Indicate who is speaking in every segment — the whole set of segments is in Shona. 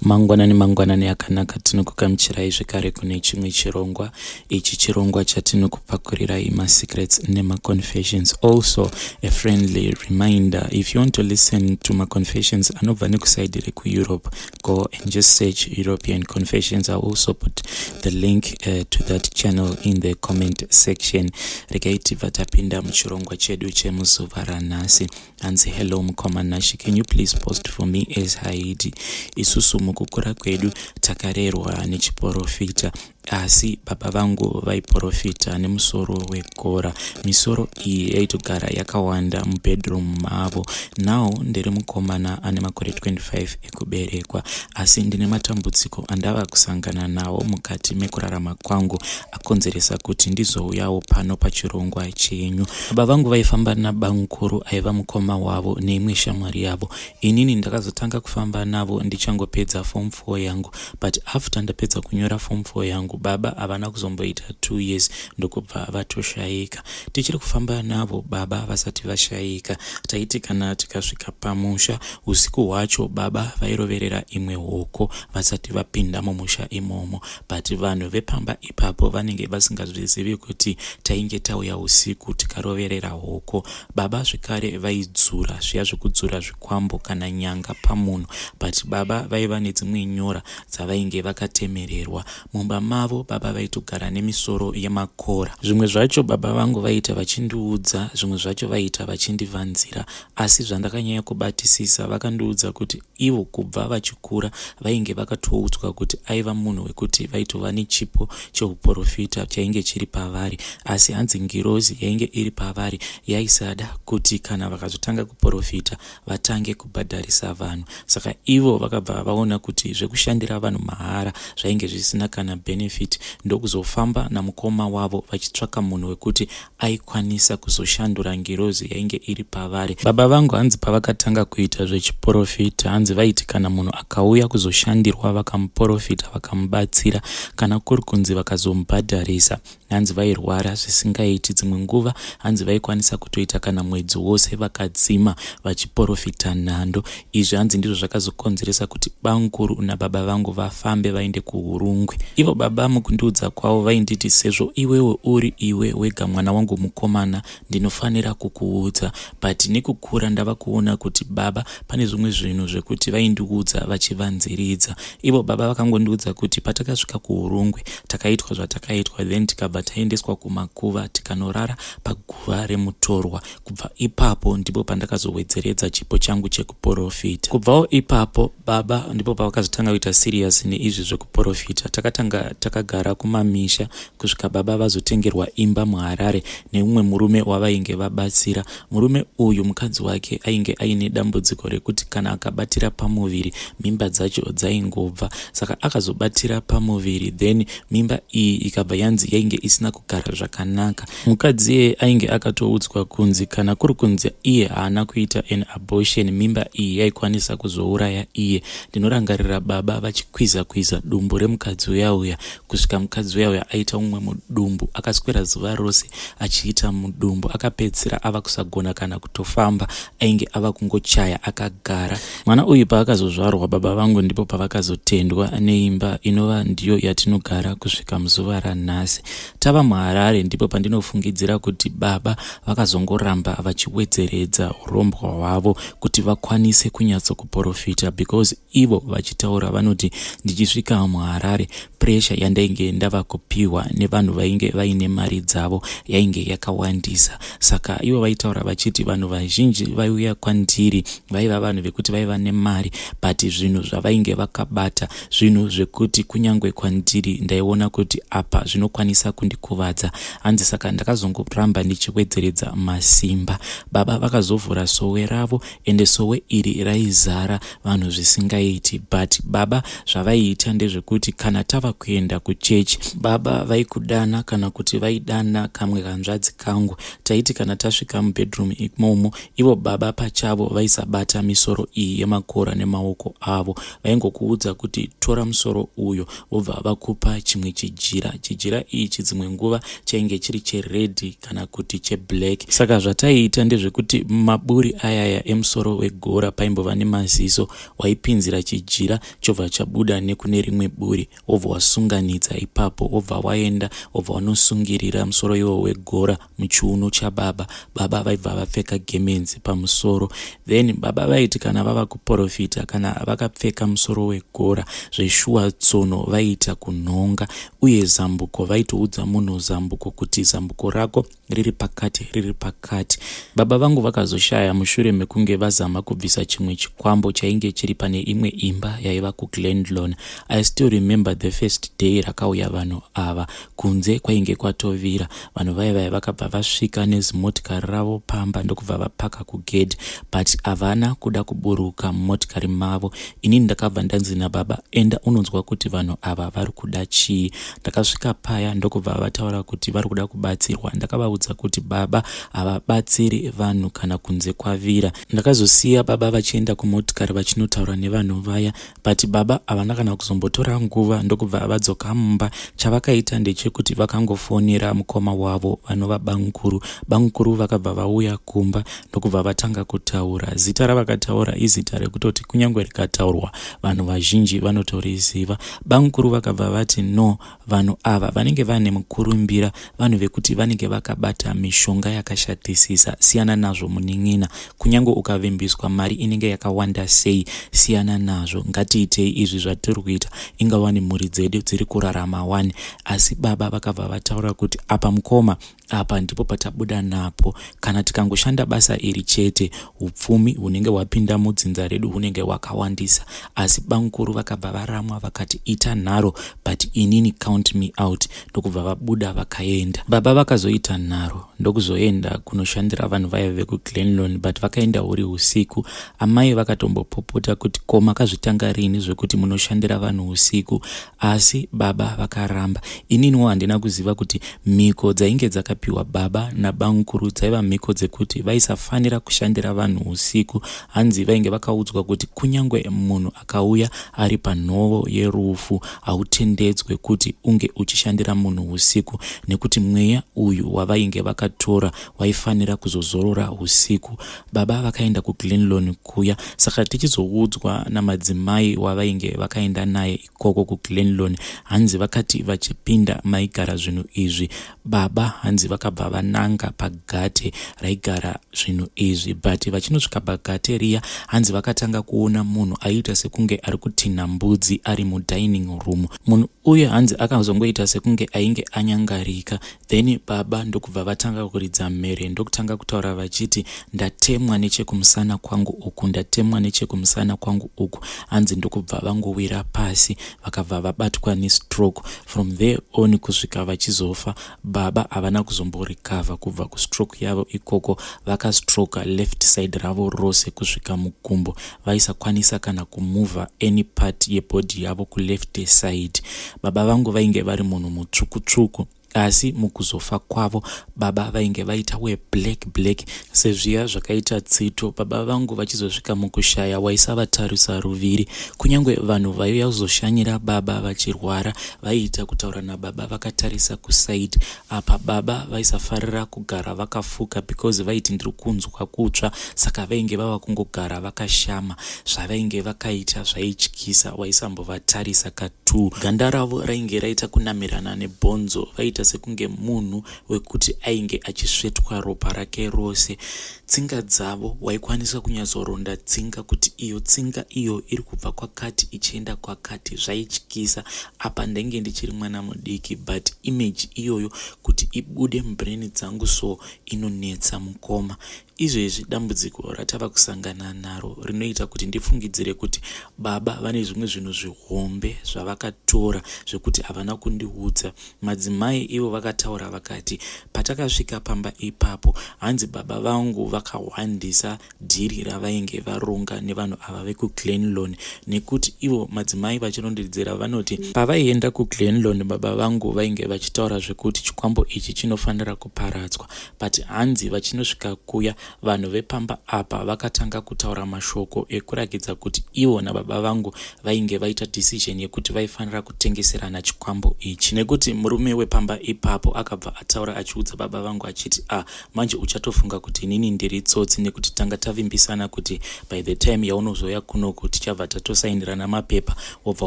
Speaker 1: Mangwanani mangwanani akanaka tinokukamuchirai zvekare kune chimwe chirongwa ichi chirongwa chatinokupakurirai masecrets nemaconfessions also a friendly reminder if you want to listen to maconfessions anobva nekusaidi rekueurope go and just search european confessions i also put the link uh, to that channel in the comment section regai tibva tapinda muchirongwa chedu chemuzuva ranhasi hanzi hello mukoma nashe can you please post for me as haidi isusu mukukura kwedu takarerwa nechiporofita asi baba vangu vaiporofita nemusoro wegora misoro iyi yaitogara yakawanda mubedroom mavo now ndiri mukomana ane makore 25 kuberekwa asi ndine matambudziko andava kusangana nawo mukati mekurarama kwangu akonzeresa kuti ndizouyawo pano pachirongwa chenyu baba vangu vaifamba nabamukuru aiva mukoma wavo neimwe shamwari yavo inini ndakazotanga kufamba navo ndichangopedza form 4 yangu but after ndapedza kunyora form 4 yangu baba havana kuzomboita two years ndokubva vatoshayika tichiri kufamba navo baba vasati vashaika taiti kana tikasvika pamusha usiku hwacho baba vairoverera imwe hoko vasati vapinda mumusha imomo but vanhu vepamba ipapo vanenge vasingazvizivi kuti tainge tauya usiku tikaroverera hoko baba zvekare vaidzura zviya zvekudzura zvikwambo kana nyanga pamunhu but baba vaiva nedzimwe nyora dzavainge vakatemererwa Mumba mavo baba vaitogara nemisoro yemakora. Zvimwe zvacho baba vangu vaiita vachindiudza, zvimwe zvacho vaiita vachindivanzira. Asi zvandakanyanya kubatisisa vakandiudza kuti ivo kubva vachikura vainge vakatoudzwa kuti aiva munhu wekuti vaitova nechipo cheuporofita chainge chiri pavari. Asi hanzi ngirozi yainge iri pavari yaisada kuti kana vakazotanga kuporofita vatange kubhadharisa vanhu saka ivo vakabva vaona kuti zvekushandira vanhu mahara zvainge zvisina kana benefit ndokuzofamba namukoma wavo vachitsvaka munhu wekuti aikwanisa kuzoshandura ngirozi yainge iri pavari baba vangu hanzi pavakatanga kuita zvechiporofita hanzi vaiti kana munhu akauya kuzoshandirwa vakamuporofita vakamubatsira kana kuri kunzi vakazomubhadharisa hanzi vairwara zvisingaiti dzimwe nguva hanzi vaikwanisa kutoita kana mwedzi wose vakadzima vachiporofita nhando izvi hanzi ndizvo zvakazokonzeresa kuti bamkuru nababa vangu vafambe vaende kuhurungwe ivo baba mukundiudza kwavo vainditi sezvo iwewe uri iwe wega mwana wangu mukomana ndinofanira kukuudza but nekukura ndava kuona kuti baba pane zvimwe zvinhu zvekuti vaindiudza vachivanziridza ivo baba vakangondiudza kuti patakasvika kuurungwe takaitwa zvatakaitwa then tikabva taendeswa kumakuva tikanorara paguva remutorwa kubva ipapo ndipo pandakazowedzeredza chipo changu chekuporofita kubvawo ipapo baba ndipo pavakazotanga kuita serious neizvi zvekuporofita takatanga takagara kumamisha kusvika baba vazotengerwa imba muharare neumwe murume wavainge vabatsira murume uyu mukadzi wake ainge aine dambudziko rekuti kana akabatira pamuviri mimba dzacho dzaingobva saka akazobatira pamuviri then mimba iyi ikabva yanzi yainge isina kugara zvakanaka mukadzi iye ainge akatoudzwa kunzi kana kuri kunzi iye haana kuita an abortion mimba iyi yaikwanisa kuzouraya iye ndinorangarira baba vachikwiza kwiza dumbu remukadzi uyauya kusvika mukadzi uya uya aita umwe mudumbu akaswera zuva rose achiita mudumbu akapedzisira ava kusagona kana kutofamba ainge ava kungochaya akagara mwana uyu paakazozvarwa baba vangu ndipo pavakazotendwa neimba inova ndiyo yatinogara kusvika muzuva ranhasi tava muharare ndipo pandinofungidzira kuti baba vakazongoramba vachiwedzeredza urombwa hwavo kuti vakwanise kunyatsokuporofita because Ivo vachitaura vanoti, Ndichisvika muHarare, puresha yandainge ndava kupihwa nevanhu vainge vaine mari dzavo yainge yakawandisa. Saka ivo vaitaura vachiti vanhu vazhinji vaiuya kwandiri vaiva vanhu vekuti vaiva nemari but zvinhu zvavainge vakabata zvinhu zvekuti kunyange kwandiri ndaiona kuti apa zvinokwanisa kundikuvadza. Hanzi saka ndakazongoramba ndichiwedzeredza masimba. Baba vakazovhura sowe ravo ende sowe iri raizara vanhu zvisingaiti but baba zvavaiita ndezvekuti kana tava kuenda kuchechi baba vaikudana kana kuti vaidana kamwe kanzvadzi kangu taiti kana tasvika mubedroom imomo ivo baba pachavo vaisabata misoro iyi yemakora nemaoko avo vaingokuudza kuti tora musoro uyo vobva vakupa chimwe chijira chijira ichi dzimwe nguva chainge chiri cheredhi kana kuti cheblack saka zvataiita ndezvekuti maburi ayaya emusoro wegora paimbova nemaziso waipinzira chijira chobva chabuda nekune rimwe buri wobva wasunganidza ipapo wobva waenda wobva wanosungirira musoro iwo wegora muchiuno chababa baba vaibva vapfeka gemenzi pamusoro then baba vaiti kana vava kuprofita kana vakapfeka musoro wegora zveshuwa tsono vaiita kunhonga uye zambuko vaitoudza munhu zambuko kuti zambuko rako riri pakati riri pakati baba vangu vakazoshaya mushure mekunge vazama kubvisa chimwe chikwambo chainge chiri pane imwe imba yaiva kuglandlon i still remember the first day rakauya vanhu ava kunze kwainge kwatovira vanhu vaye vaye vakabva vasvika nezimotikari ravo pamba ndokubva vapaka kugedhi but havana kuda kuburuka mumotikari mavo inini ndakabva ndanzi nababa enda unonzwa kuti vanhu ava vari kuda chii ndakasvika paya ndokubva vataura kuti vari kuda kubatsirwa ndakavaudza kuti baba havabatsiri vanhu kana kunze kwavira ndakazosiya baba vachienda kumotikari vachinotaura nevanhu vaya but baba havana kana kuzombotora nguva ndokubva vadzoka mumba chavakaita ndechekuti vakangofonera mukoma wavo vanova bamukuru bamukuru vakabva vauya kumba ndokubva vatanga kutaura zita ravakataura izita rekutoti kunyange rikataurwa vanhu vazhinji vanotoriziva bamukuru vakabva vati no Vanhu ava vanenge vane mukurumbira vanhu vekuti vanenge vakabata mishonga yakashatisisa siyana nazvo munin'ina kunyange ukavimbiswa mari inenge yakawanda sei siyana nazvo ngatiitei izvi zvatiri kuita ingawani mhuri dzedu dziri kurarama wani asi baba vakabva vataura kuti apa mukoma Apa ndipo patabuda napo. Kana tikangoshanda basa iri chete, upfumi hunenge hwapinda mudzinza redu hunenge hwakawandisa. Asi bamukuru vakabva varamwa vakati ita nharo but inini count me out ndokubva vabuda vakaenda. Baba vakazoita nharo ndokuzoenda kunoshandira vanhu vaive vekuglenlon but vakaenda huri usiku. Amai vakatombopopota kuti ko makazvitanga rini zvekuti munoshandira vanhu usiku. Asi baba vakaramba. Ininiwo handina kuziva kuti mhiko dzainge dzakapiwa baba nabamukuru dzaiva mhiko dzekuti vaisafanira kushandira vanhu usiku. Hanzi vainge vakaudzwa kuti kunyange munhu akauya ari panhovo yerufu hautendedzwe kuti unge uchishandira munhu usiku nekuti mweya uyu wavainge vakatora waifanira kuzozorora usiku. Baba vakaenda kuGlenlone kuya saka tichizoudzwa namadzimai wavainge vakaenda naye ikoko kuGlenlone hanzi vakati vachipinda maigara zvinhu izvi baba hanzi vakabva vananga pagate raigara zvinhu izvi but vachinosvika pagate riya hanzi vakatanga kuona munhu aiita sekunge ari kutinha mbudzi ari mudining room munhu uye hanzi akazongoita sekunge ainge anyangarika Then baba ndokubva vatanga kuridza mhere ndokutanga kutaura vachiti ndatemwa nechekumusana kwangu uku ndatemwa nechekumusana kwangu uku hanzi ndokubva vangowira pasi vakabva vabatwa nestroke from there on kusvika vachizofa baba havana kuzomborikavha kubva kustroke yavo ikoko vakastroka left side ravo rose kusvika mukumbo vaisakwanisa kana kumover any part yebody yavo kuleft side baba vangu vainge vari munhu mutsvuku tsvuku asi mukuzofa kwavo baba vainge vaita weblack black sezviya zvakaita tsito baba vangu vachizosvika mukushaya waisavatarisa ruviri kunyange vanhu vaiuya kuzoshanyira baba vachirwara vaiita kutaura nababa vakatarisa kusaidi Apa baba vaisafarira kugara vakafuka because vaiti ndiri kunzwa kutsva saka vainge vava kungogara vakashama. Zvavainge vakaita zvaityisa waisambovatarisa katu. Ganda ravo rainge raita kunamirana nebhonzo vaiita sekunge munhu wekuti ainge achisvetwa ropa rake rose. Tsinga dzavo, waikwanisa kunyatsoronda tsinga kuti iyo tsinga iyo iri kubva kwakati ichienda kwakati. Zvaityisa. Apa ndainge ndichiri mwana mudiki but image iyoyo kuti ibude mubrain dzangu so inonetsa mukoma. Izvezvi dambudziko ratava kusangana naro rinoita kuti ndifungidzire kuti baba vane zvimwe zvinhu zvihombe zvavakatora zvekuti havana kundiudza Madzimai ivo vakataura vakati, Patakasvika pamba ipapo, hanzi baba vangu vakahwandisa dhiri ravainge varonga nevanhu ava vekuGlenlone nekuti ivo madzimai vachirondedzera vanoti pavaienda kuGlenlone baba vangu vainge vachitaura zvekuti chikwambo ichi chinofanira kuparadzwa but hanzi vachinosvika kuya Vanhu vepamba apa vakatanga kutaura mashoko ekurakidza kuti ivo nababa vangu vainge vaita decision yekuti vaifanira kutengeserana chikwambo ichi nekuti murume wepamba ipapo akabva ataura achiudza baba vangu achiti a ah, manje uchatofunga kuti inini ndiri tsotsi nekuti tanga tavimbisana kuti by the time yaunozoya kunoku tichabva tatosainirana mapepa wobva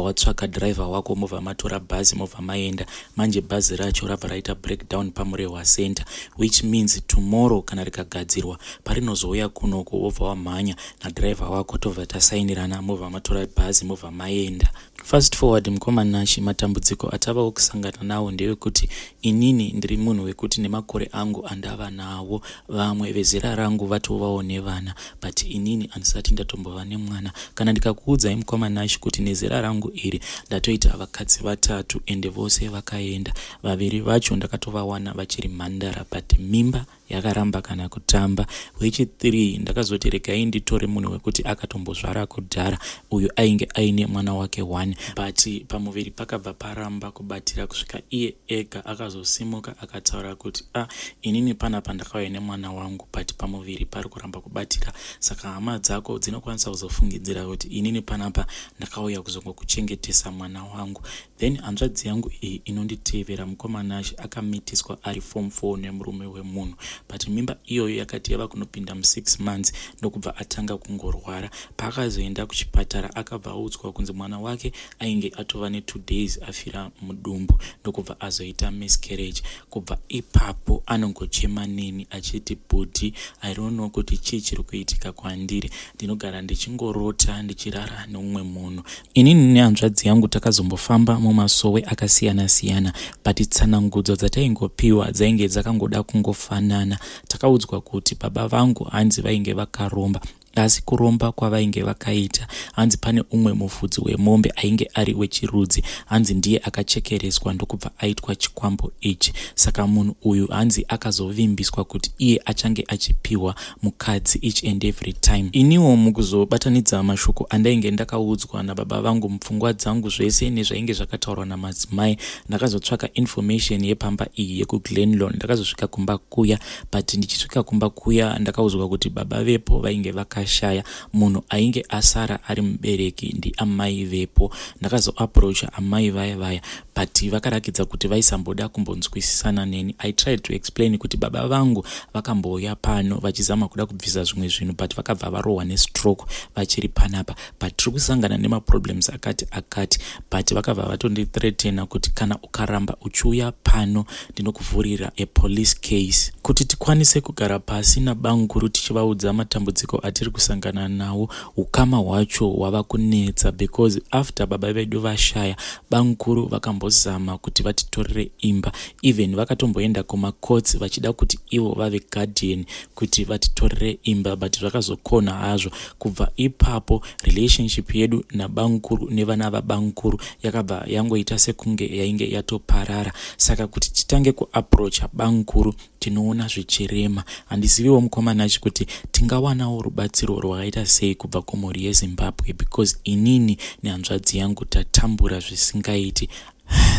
Speaker 1: watsvaka driver wako mobva matora bhazi mobva maenda manje bhazi racho rabva raita breakdown pamurehwa center which means tomorrow kana rikagadzirwa parinozouya kunoko wobva wamhanya nadriver wako tobva tasainirana mobva matora bhazi mobva maenda fast forward mukoma nashe matambudziko atavawo kusangana nawo ndewekuti inini ndiri munhu wekuti nemakore angu andava nawo vamwe vezera rangu vatovawo nevana but inini handisati ndatombova nemwana kana ndikakuudzai mukoma nash kuti nezera rangu iri ndatoita vakadzi vatatu ende vose vakaenda vaviri vacho ndakatovawana vachiri mhandara but mimba yakaramba kana kutamba wechithree ndakazoti regai nditore munhu wekuti akatombozvara kudhara uyu ainge aine mwana wake one but pamuviri pakabva paramba kubatira kusvika iye ega akazosimuka akataura kuti a ah, inini panapa ndakauya nemwana wangu but pamuviri pari ramba kubatika saka hama dzako dzinokwanisa kuzofungidzira kuti inini panapa ndakauya kuzongokuchengetesa mwana wangu then hanzvadzi yangu iyi inonditevera mukoma nashe akamitiswa ari form four nemurume wemunhu but mimba iyoyo yakati yava kunopinda musix months ndokubva atanga kungorwara paakazoenda kuchipatara akabva audzwa kunzi mwana wake ainge atova netwo days afira mudumbu ndokubva azoita miscarriage Kubva ipapo anongochema neni achiti bhudhi I don't know kuti chii chiri kuitika kwandiri. Ndinogara ndichingorota ndichirara neumwe munhu. Inini nehanzvadzi yangu takazombofamba mumasowe akasiyana siyana but tsanangudzo dzataingopiwa dzainge dzakangoda kungofanana. Takaudzwa kuti baba vangu hanzi vainge vakaromba Asi kuromba kwavainge vakaita, hanzi pane umwe mufudzi wemombe ainge ari wechirudzi, hanzi ndiye akachekereswa ndokubva aitwa chikwambo ichi. Saka munhu uyu hanzi akazovimbiswa kuti iye achange achipihwa mukadzi each and every time. Iniwo mukuzobatanidza mashoko andainge ndakaudzwa nababa vangu mupfungwa dzangu zvese nezvainge zvakataurwa namadzimai, ndakazotsvaka information yepamba iyi yekuGlenlawn ndakazosvika kumba kuya but ndichisvika kumba kuya ndakaudzwa kuti baba vepo vainge vakashaya munhu ainge asara ari mubereki ndiamai vepo ndakazoaproacha amai vaya vaya but vakarakidza kuti vaisamboda kumbonzwisisana neni i tried to explain kuti baba vangu vakambouya pano vachizama kuda kubvisa zvimwe zvinhu but vakabva varohwa nestroke vachiri panapa but tiri kusangana nemaproblems akati akati but vakabva vatondithreatena kuti kana ukaramba uchiuya pano ndinokuvhurira apolice case kuti tikwanise kugara pasi nabanguru tichivaudza matambudziko atiri kusangana nawo ukama hwacho hwava kunetsa because after baba vedu vashaya banguru vakambozama kuti vatitorere imba even vakatomboenda kumacourts vachida kuti ivo vave guardian kuti vatitorere imba but zvakazokona hazvo kubva ipapo relationship yedu nabamukuru nevana vabamukuru yakabva yangoita sekunge yainge yatoparara saka kuti titange kuaproacha bamukuru tinoona zvichirema handiziviwo mukomanachi kuti tingawanawo rubatsiro rwakaita sei kubva kumhuri yezimbabwe because inini nehanzvadzi yangu tatambura zvisingaiti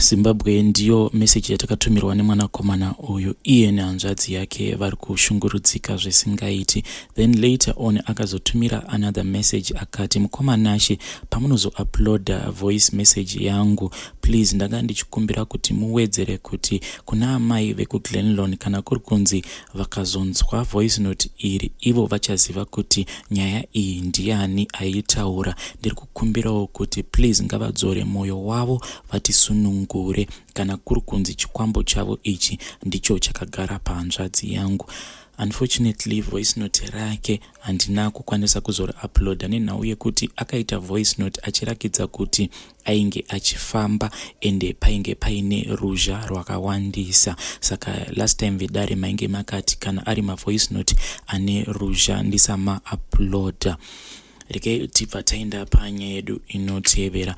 Speaker 1: zimbabwe ndiyo meseji yatakatumhirwa nemwanakomana uyu iye nehanzvadzi yake vari kushungurudzika zvisingaiti then later on akazotumira another message akati mukoma nashe pamunozouploada voice message yangu please ndanga ndichikumbira kuti muwedzere kuti kuna amai vekuglenlon kana kuri kunzi vakazonzwa voice note iri ivo vachaziva kuti nyaya iyi ndiani aiitaura ndiri kukumbirawo kuti please ngavadzore mwoyo wavo vatisunungure kana kuri kunzi chikwambo chavo ichi ndicho chakagara pahanzvadzi yangu unfortunately voice note rake handina kukwanisa kuzori uploada nenhau yekuti akaita voice note achirakidza kuti ainge achifamba ende painge paine ruzha rwakawandisa saka last time vedare mainge makati kana ari mavoice note ane ruzha ndisama uploader reke tibva taenda panyaya yedu inotevera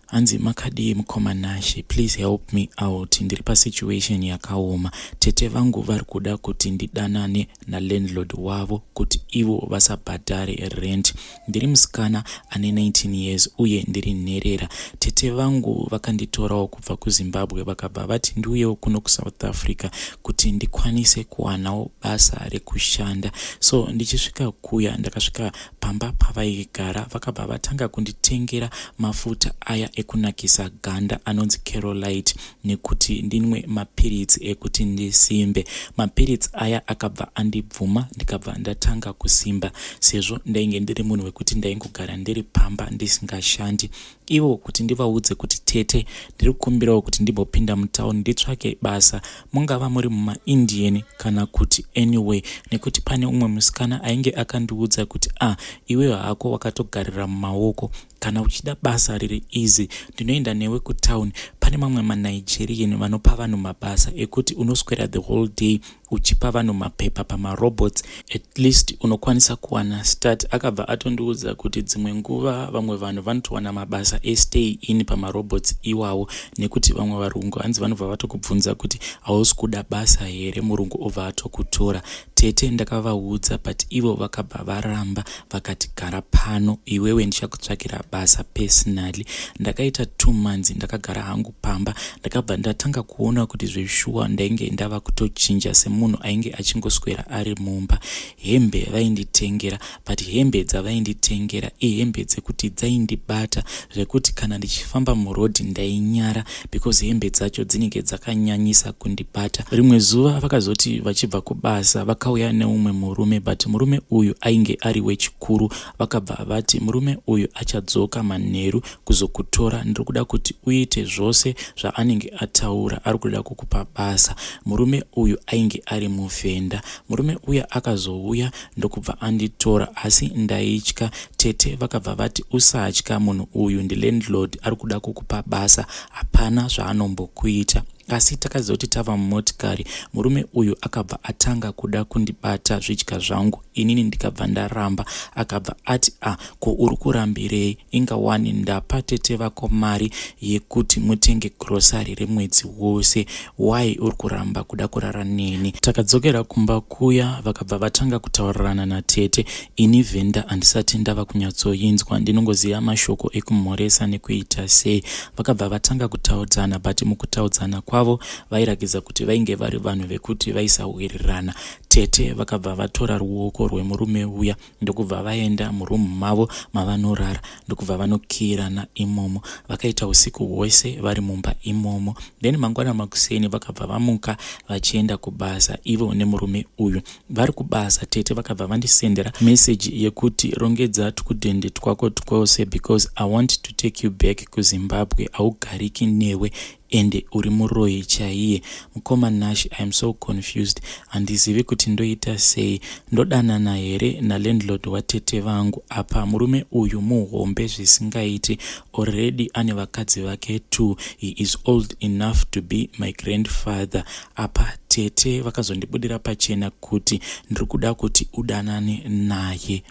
Speaker 1: hanzi makadii mukoma nashe please help me out ndiri pasituation yakaoma tete vangu vari kuda kuti ndidanane nalandlord wavo kuti ivo vasabhadhare rent Ndiri musikana ane 19 years uye ndiri nherera. Tete vangu vakanditorawo kubva kuZimbabwe vakabva vati ndiuyewo kuno kuSouth Africa kuti ndikwanise kuwanawo basa rekushanda. So ndichisvika kuya ndakasvika pamba pavaigara vakabva vatanga kunditengera mafuta aya ekunakisa ganda anonzi Carolite. nekuti ndinwe mapiritsi ekuti ndisimbe. Mapiritsi aya akabva andibvuma ndikabva ndatanga kusimba sezvo ndainge ndiri munhu wekuti ndaingogara ndiri pamba ndisingashandi. Ivo kuti ndivaudze kuti tete ndiri kukumbirawo kuti ndimbopinda mutown nditsvake basa mungava muri mumaindian kana kuti anyway nekuti pane umwe musikana ainge akandiudza kuti ah iweyo hako wakatogarira mumaoko Kana uchida basa riri easy ndinoenda newe kutown pane mamwe manigerian vanopa vanhu mabasa ekuti unoswera the whole day uchipa vanhu mapepa pamarobots at least unokwanisa kuwana start akabva atondiudza kuti dzimwe nguva vamwe vanhu vanotowana mabasa estay in pamarobots iwawo nekuti vamwe varungu hanzi vanobva vatokubvunza kuti hausi kuda basa here murungu obva atokutora Tete ndakavaudza but ivo vakabva varamba vakati gara pano iwewe ndichakutsvakira basa personally. Ndakaita two months ndakagara hangu pamba ndakabva ndatanga kuona kuti zveshuwa ndainge ndava kutochinja semunhu ainge achingoswera ari mumba. Hembe vainditengera but hembe dzavainditengera ihembe dzekuti dzaindibata zvekuti kana ndichifamba murodhi ndainyara because hembe dzacho dzinenge dzakanyanyisa kundibata rimwe zuva vakazoti vachibva kubasa vakauya neumwe murume but murume uyu ainge ari wechikuru vakabva vati murume uyu achadzoka manheru kuzokutora ndiri kuda kuti uite zvose zvaanenge ataura ari kuda kukupa basa murume uyu ainge ari muvhenda murume uya akazouya ndokubva anditora asi ndaitya tete vakabva vati usatya munhu uyu ndilandlord ari kuda kukupa basa hapana zvaanombokuita asi takazoti tava mumotikari murume uyu akabva atanga kuda kundibata zvidya zvangu inini ndikabva ndaramba akabva ati a ah, ko uri kurambirei inga wani ndapa tete vako mari yekuti mutenge grocery remwedzi wose why uri kuramba kuda kurara neni takadzokera kumba kuya vakabva vatanga kutaurirana natete ini venda handisati ndava kunyatsoinzwa ndinongoziva mashoko ekumhoresa nekuita sei vakabva vatanga kutaudzana but mukutaudzana kwavo vairakidza kuti vainge vari vanhu vekuti vaisawirirana tete vakabva vatora ruoko rwemurume uya ndokubva vaenda muroom mavo mavanorara ndokubva vanokiyirana imomo vakaita usiku hwese vari mumba imomo then mangwana makuseni vakabva vamuka vachienda kubasa ivo nemurume uyu vari kubasa tete vakabva vandisendera message yekuti rongedza tukudhende twako twose because i want to take you back kuzimbabwe haugariki newe ende uri muroyi chaiye. Mkoma Nash I am so confused handizivi kuti ndoita sei. Ndodanana here nalandlord watete vangu apa murume uyu muhombe zvisingaiti already ane vakadzi vake two he is old enough to be my grandfather apa tete vakazondibudira pachena kuti ndiri kuda kuti udanane naye.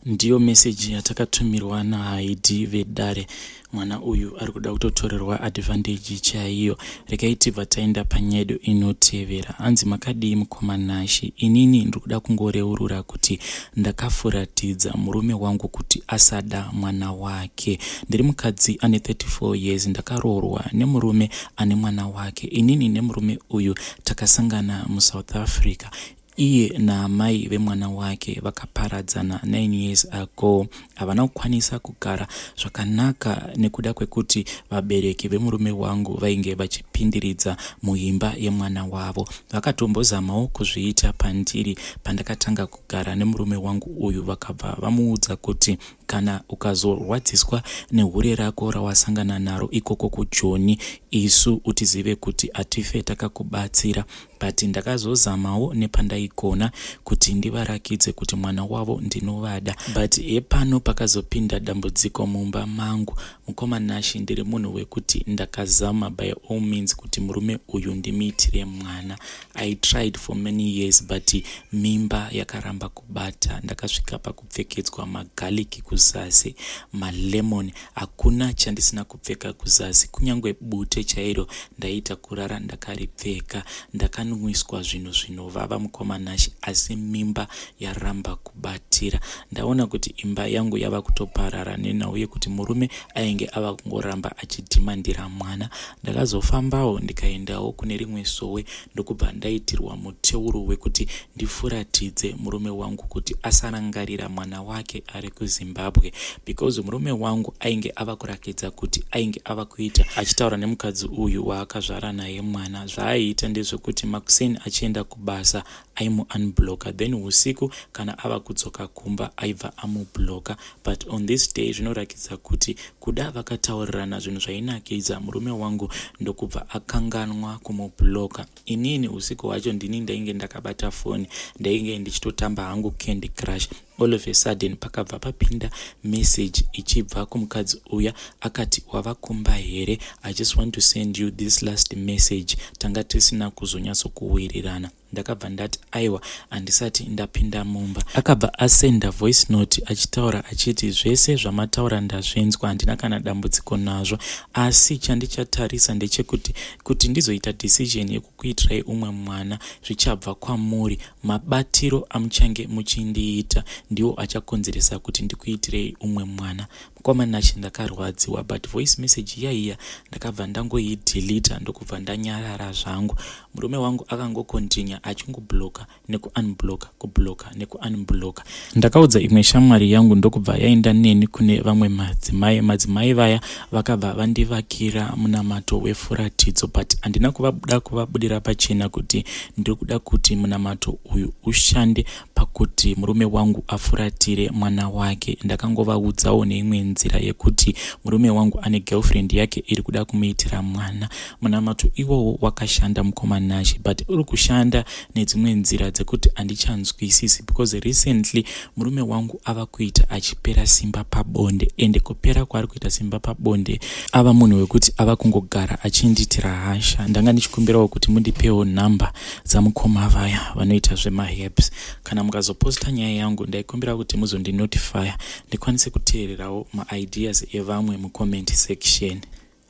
Speaker 1: Ndiyo message yatakatumirwa naHaidi vedare. Mwana uyu ari kuda kutotorerwa advantage chaiyo. Regai tibva taenda panyedo inotevera. Hanzi makadii mukoma Nashi? Inini ndiri kuda kungoreurura kuti ndakafuratidza murume wangu kuti asada mwana wake. Ndiri mukadzi ane 34 years ndakaroorwa nemurume ane mwana wake. Inini nemurume uyu takasangana muSouth Africa. Iye naamai vemwana wake vakaparadzana 9 years ago. Havana kukwanisa kugara zvakanaka nekuda kwekuti vabereki vemurume wangu vainge vachipindiridza muimba yemwana wavo. Vakatombozamawo kuzviita pandiri pandakatanga kugara nemurume wangu uyu vakabva vamuudza kuti kana ukazorwadziswa nehure rako rawasangana naro ikoko kujoni isu utizive kuti hatife takakubatsira but ndakazozamawo nepandaigona kuti ndivarakidze kuti mwana wavo ndinovada but hepano pakazopinda dambudziko mumba mangu mukoma nashi ndiri munhu wekuti ndakazama by all means kuti murume uyu ndimiitire mwana i tried for many years but mimba yakaramba kubata ndakasvika paku kupfekedzwa magaliki kuzasi malemon hakuna chandisina kupfeka kuzasi kunyange bute chairo ndaiita kurara ndakaripfeka ndakanwiswa zvinhu zvinovava mukoma nashi asi mimba yaramba kubatira ndaona kuti imba yangu yava kutoparara nenhau yekuti murume ainge ava kungoramba achidhimandira mwana ndakazofambawo ndikaendawo kune rimwe sowe ndokubva ndaitirwa muteuro wekuti ndifuratidze murume wangu kuti asarangarira mwana wake ari kuzimbabwe because murume wangu ainge ava kurakidza kuti ainge ava kuita achitaura nemukadzi uyu waakazvara naye mwana zvaaiita ndezvekuti makuseni achienda kubasa aimuunbloka then usiku kana ava kudzoka kumba aibva amubloka but on this day zvinorakidza kuti Kuda vakataurirana zvinhu zvainakidza murume wangu ndokubva akanganwa kumubloka. Inini usiku hwacho ndini ndainge ndakabata foni ndainge ndichitotamba hangu candy crush. All of a sudden pakabva papinda message ichibva kumukadzi uya akati wava kumba here? I just want to send you this last message. Tanga tisina kuzonyatsokuwirirana. ndakabva ndati aiwa handisati ndapinda mumba akabva asenda voice note achitaura achiti zvese zvamataura ndazvinzwa handina kana dambudziko nazvo asi chandichatarisa ndechekuti kuti ndizoita decision yekukuitirai umwe mwana zvichabva kwamuri mabatiro amuchange muchindiita ndiwo achakonzeresa kuti ndikuitirei umwe mwana Mkoma Nashy ndakarwadziwa but voice message iya iya ndakabva ndangoideleter ndokubva ndanyarara zvangu. Murume wangu akangocontinua achingoblocker nekuunblocker kublocker nekuunblocker. Ndakaudza imwe shamwari yangu ndokubva yaenda neni kune vamwe madzimai. Madzimai vaya vakabva vandivakira munamato wefuratidzo but handina kuvabuda kuvabudira pachena kuti ndiri kuda kuti munamato uyu ushande pakuti murume wangu afuratire mwana wake ndakangovaudzawo neimwe nzira yekuti murume wangu ane girlfriend yake iri kuda kumuitira mwana munamato iwowo wakashanda mukoma nashe but uri kushanda nedzimwe nzira dzekuti handichanzwisisi because recently murume wangu ava kuita achipera simba pabonde ende kupera kwaari kuita simba pabonde ava munhu wekuti ava kungogara achindiitira hasha ndanga ndichikumbirawo kuti mundipewo number dzamukoma vaya vanoita zvemaherbs kana mukazoposta nyaya yangu ndaikumbira kuti muzondinotifya ndikwanise kuteererawo maideas evamwe mucomment section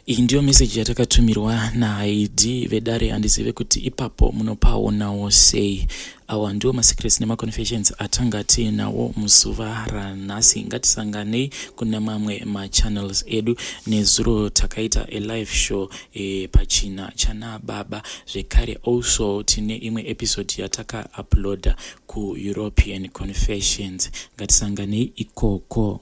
Speaker 1: iyi ndiyo meseji yatakatumiriwa nahaidi vedare handizive kuti ipapo munopaonawo sei awa ndiwo masecrets nemaconfessions atanga tiinawo muzuva ranhasi ngatisanganei kune mamwe machannels edu nezuro takaita alive show e, pachina chana baba zvekare also tine imwe episode yataka uploader ku european confessions ngatisanganei ikoko